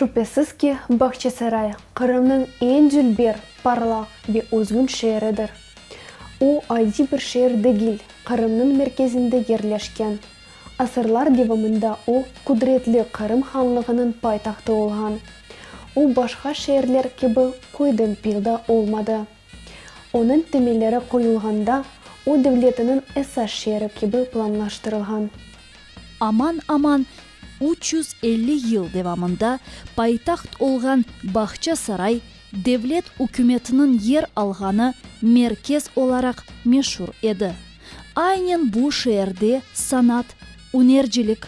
Şübhesiz ki, Bağçasaray, Qırımnıñ eñ dülber, parlaq ve özgün şeeridir. O, adiy bir şeer degil, Qırımnıñ merkezinde yerleşken, Asırlar devamında o, qudretli Qırım Hanlığınıñ paytahtı olğan. O, başqa şeerler kibi Köydempilda olmadı. Onıñ temelleri qoyulğanda, o devletiniñ esas şeeri kibi planlaştırılğan. Aman-aman üç yüz elli yıl devamında paytaht olğan Bağçasaray, devlet ükümetiniñ yer alğanı merkez olaraq meşur edi. Aynen bu şeerde sanat, ünercilik,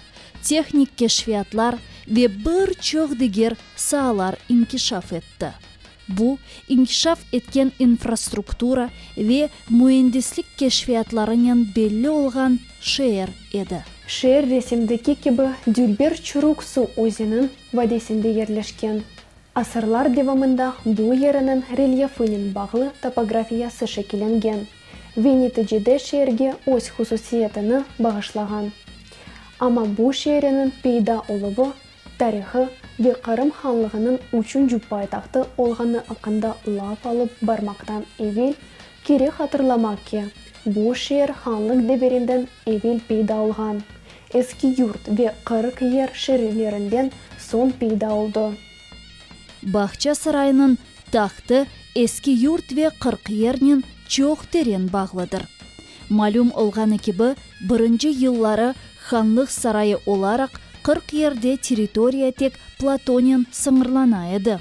tehnik keşfiyatlar ve bir çoq diger saalar inkişaf etti. Bu, inkişaf etken infrastruktura ve müendislik keşfiyatlarınen belli olğan şeer edi. Şeer resimdeki kibi dülber Çuruk suv özeniñ vadesinde yerleşken. Asırlar devamında bu yeriniñ relyefinen bağlı topografiyası şekillengen ve neticede şeerge öz hususiyetini bağışlağan. Amma bu şeeriniñ peyda oluvı, tarihı ve Qırım Hanlığınıñ üçünci paytahtı olğanı aqqında laf alıp barmaqtan evel Kerek hatırlamaq ki, bu şeer hanlıq devirinden evel peyda olğan, Eskiyurt ve Qırıkyer şeerlerinden soñ peyda oldı. Bağça Saraynıñ tahtı Eskiyurt ve Qırıkyernen çoq teren bağlıdır. Malüm olğanı kibi, birinci yılları hanlıq sarayı olaraq Qırıkyerde territoriya tek platonen sıñırlana edi.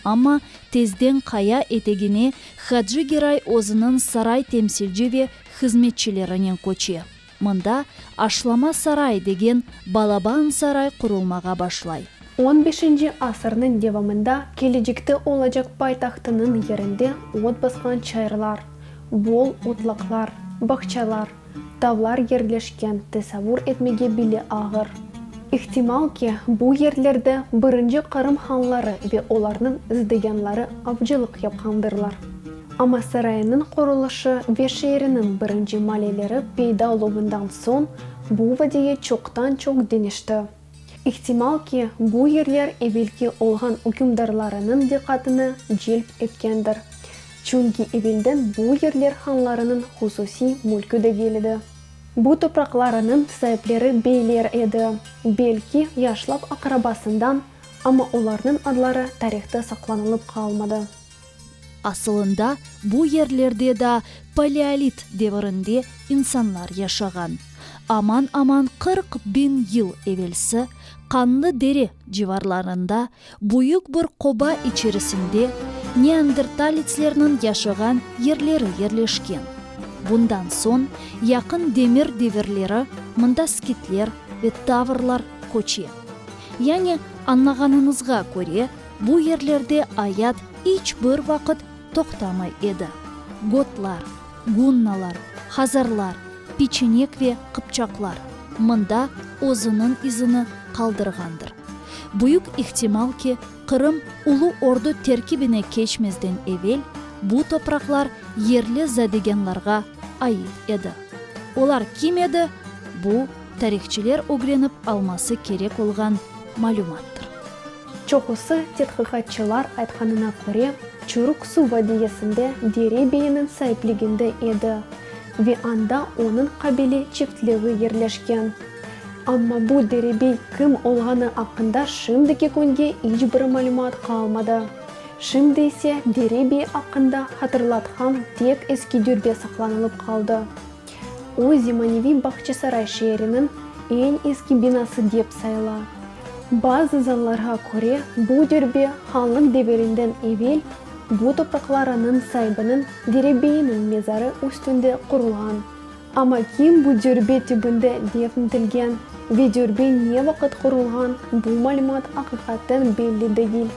Amma tezden qaya etegine Hacı Geray özüniñ saray temsilci ve hızmetçilerinen köçe. Mında Aşlama saray degen balaban saray qurulmağa başlay. On beşinci asırnıñ devamında kelecekte olacaq paytahtınıñ yerinde ot basqan çayırlar, bol otlaqlar, bağçalar, Tavlar yerleşken tesavur etmege bile ağır. İhtimal ki, bu yerlerde birinci Qırım hanları ve olarnıñ zdıyanları avcılıq yapqandırlar. Amma sarayınıñ qurulışı ve şeeriniñ birinci maleleri peyda oluvından soñ bu vadiye çoqtan-çoq deñişti. İhtimal ki, bu yerler evelki olğan ükümdarlarınıñ diqqatını celp etkendir, çünki evelden bu yerler hanlarınıñ hususiy mülkü degil edi. Bu topraqlarınıñ saipleri beyler edi, belki, yaşlap aqrabasından, amma olarnıñ adları tarihta saqlanılıp qalmadı. Asılında bu yerlerde daa paleolit devirinde insanlar yaşağan. Aman-aman qırq biñ yıl evelsi Qanlı Dere civarlarında büyük bir qoba içerisinde neandertalitslerniñ yaşağan yerleri yerleşken. Bundan soñ yaqın demir devirleri mında skitler ve tavrlar köçe. Yani, añlağanıñızğa köre, Bu yerlerde ayat iç bir vaqıt toqtamay edi. Gotlar, gunnalar, hazarlar, piçinek ve qıpçaqlar mında özüniñ izini qaldırğandır. Büyük ihtimal ki, Qırım Ulu Ordu terkibine keçmezden evel bu topraqlar yerli zadeganlarğa ait edi. Olar kim edi, bu, tarihçiler ögrenip alması kerek olğan malümattır. Çoqusı tedqiqatçılar aytqanına köre, Çuruq suv vadiyesinde Dere beyiniñ saipliginde edi ve anda onıñ qabile çiftliği yerleşken. Amma bu derebey kim olğanı aqqında şimdiki künge iç bir malümat qalmadı. Şimdi ise derebey aqqında hatırlatqan tek eski dürbe saqlanılıp qaldı. O, zemaneviy Bağçasaray şeeriniñ eñ eski binası dep sayıla. Bazı zanlarğa köre, bu dürbe hanlıq devirinden evel bu topraqlarınıñ saibiniñ derebeyiniñ mezarı üstünde qurulğan. Amma kim bu dürbe tübünde defn etilgen ve dürbe ne vaqıt qurulğan, bu malümat aqiqaten belli degil.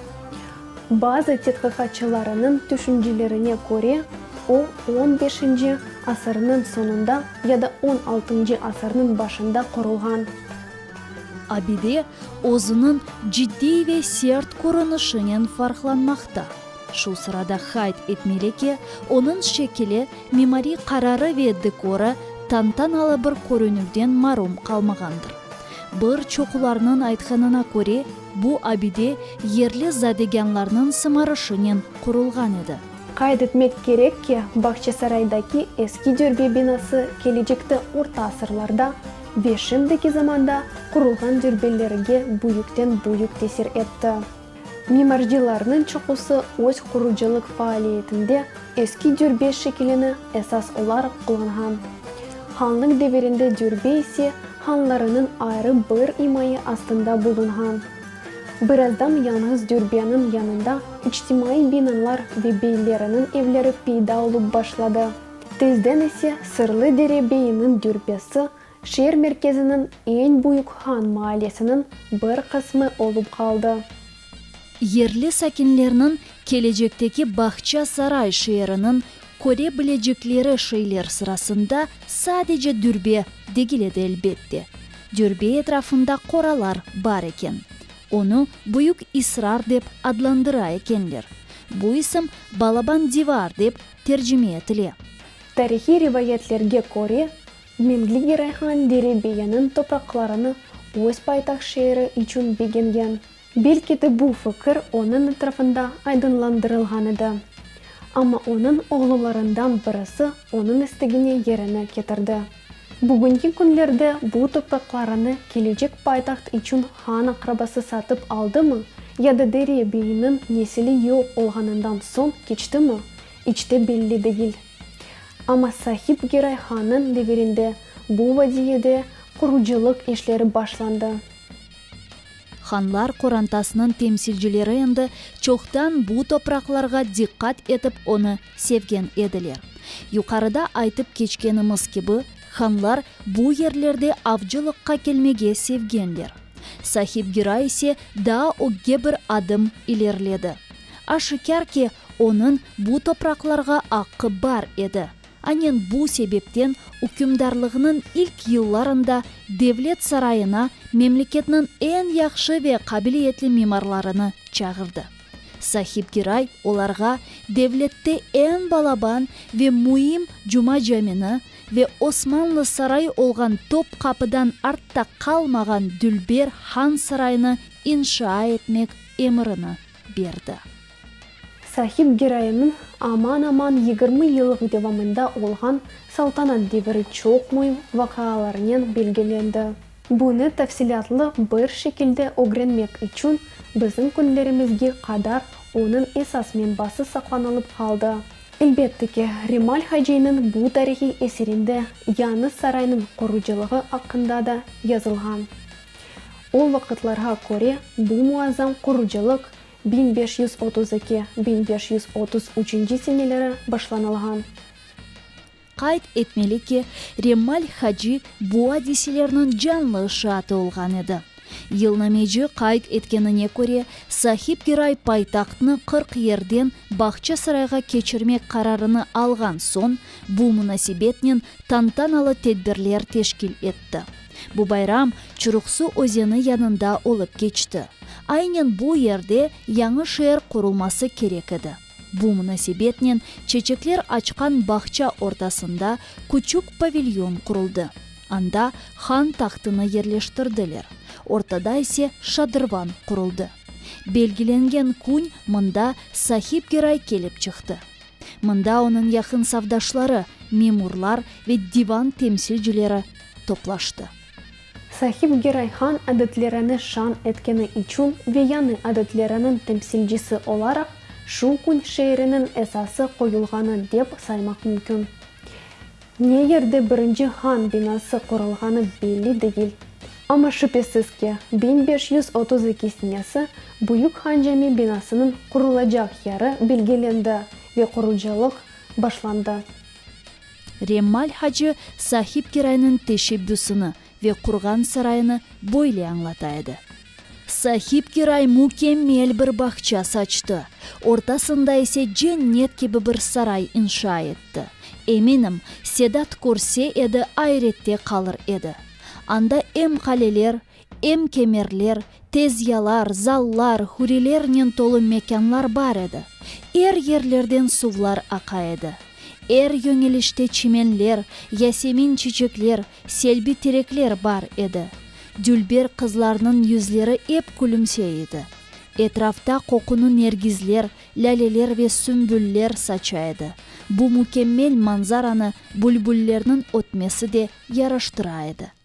Bazı tedqiqatçılarınıñ tüşüncelerine köre, o, on beşinci asırnıñ soñunda ya da on altıncı asırnıñ başında qurulğan. Abide özüniñ ciddiy ve sert körünişinen farqlanmaqta. Şu sırada qayd etmeli ki, onıñ şekili, mimariy qararı ve dekorı tantanalı bir körünüvden marum qalmağandır. Bir çoqularnıñ aytqanına köre, Bu abide yerli zadegânlarnıñ sımarışınen qurulğan edi. Qayd etmek kerek ki, Bağçasaraydaki eski dürbe binası kelecekte orta asırlarda ve şimdiki zamanda qurulğan dürbelerige büyükten büyük tesir etti. Mimarcılarnıñ çoqusı öz qurucılıq faaliyetinde eski dürbe şekilini esas olaraq qullanğan. Hanlıq devirinde dürbe ise hanlarınıñ ayrı bir imaye astında bulunğan. Birazdan yañğız dürbeniñ yanında içtimaiy binalar ve beyleriniñ evleri peyda olıp başladı. Tezden ise Sırlı Dere beyiniñ dürbesi şeer merkeziniñ eñ büyük han maallesiniñ bir qısmı olıp qaldı. Yerli sakinlerniñ kelecekteki Bağçasaray şeeriniñ köre bilecekleri şeyler sırasında sadece Dürbe degil edi, elbette. Dürbe etrafında qoralar bar eken. Onı Büyük İsrar dep adlandıra ekenler. Bu ism Balaban divar dep tercime etile. Tarihiy rivayetlerge köre, Memligi Rayhan Derebeyanıñ topraqlarını öz paytaht şeeri içün begengen. Belki de bu fikir onıñ etrafında aydınlandırılğan edi. Amma onıñ oğlularından birisi onıñ istegine yerini ketirdi. Bugünki künlerde bu topraqlarını kelecek paytaht içün han aqrabası satıp aldımı ya da Deriye beyniñ nesili yoq olğanından soñ keçtimi, iç de belli degil. Amma Sahip Geray hannıñ devirinde bu vadiyede qurucılıq işleri başlandı. Hanlar qorantasınıñ temsilcileri endi çoqtan bu topraqlarğa diqqat etip onı sevgen ediler. Yuqarıda aytıp keçkenimiz kibi, hanlar bu yerlerde avcılıqqa kelmege sevgenler. Sahibgira ise daa ögge bir adım ilerledi. Aşikâr ki, onıñ bu topraqlarğa aqqı bar edi, Anen bu sebepten ükümdarlığınıñ ilk yıllarında Devlet sarayına memleketniñ eñ yahşı ve qabiliyetli mimarlarını çağırdı. Sahibgiray olarğa devlette eñ balaban ve müim Cuma camini ve Osmanlı sarayı olğan Topqapıdan artta qalmağan Dülber han sarayını inşa etmek emirini berdi. Sahip giroyniñ aman-aman yigirmi yılıq devamında olğan saltanat deviri çoq müim vaqıalarınen belgilendi. Bunı tafsilâtlı bir şekilde ögrenmek içün bizim künlerimizge qadar onıñ esas menbası saqlanılıp qaldı. Elbette ki, Remal Haciniñ bu tarihiy eserinde yañı saraynıñ qurucılığı aqqında da yazılğan. O vaqıtlarğa köre bu muazzam qurucılıq biñ beş yüz otuz eki, biñ beş yüz otuz üçünci seneleri başlanılğan. Qayd etmeli ki, Remmal Haci bu adiselerniñ canlı şaatı olğan edi. Yılnameci qayd etkenine köre, Sahip Giray paytahtnı qırq yerden Bağçasarayğa keçirmek qararını alğan soñ, bu munasebetnen tantanalı tedbirler teşkil etti. Bu bayram Çuruqsu özeni yanında olıp keçti. Aynen bu yerde yañı şeer qurulması kerek edi. Bu munasebetnen çeçekler açqan bağça ortasında küçük pavilyon quruldı. Anda han tahtını yerleştirdiler, ortada ise şadırvan quruldı. Belgilengen kün mında Sahibgiray kelip çıqtı. Mında onıñ yaqın savdaşları, memurlar ve divan temsilcileri toplaştı. Sahip Gerayhan adetlerini şan etkeni içün ve yañı adetleriniñ temsilcisi olaraq şu kün şeeriniñ esası qoyulğanı dep saymaq mümkün. Ne yerde birinci han binası qurulğanı belli degil, amma şübesiz ki, biñ beş yüz otuz eki senesi Büyük Han Cami binasınıñ qurulacaq yeri belgilendi ve qurucılıq başlandı. Remmal hacı Sahibkiraynıñ teşebbüsini ve qurğan sarayını böyle añlata edi, Sahibkiray mükemmel bir bağça saçtı, ortasında ise cennet kibi bir saray inşa etti. Eminim, Sedat körse edi, ayrette qalır edi. Anda em qaleler, Em kemerler, tezyalar, zallar, hurilernen tolu mekânlar bar edi. Er yerlerden suvlar aqa edi. Er yöñelişte çimenler, yasemin çiçekler, selbi terekler bar edi. Dülber qızlarnıñ yüzleri ep külümse edi. Etrafta qoqunı nergizler, lâleler ve sümbüller saça edi. Bu mükemmel manzaranı bülbüllerniñ ötmesi de yaraştıra edi.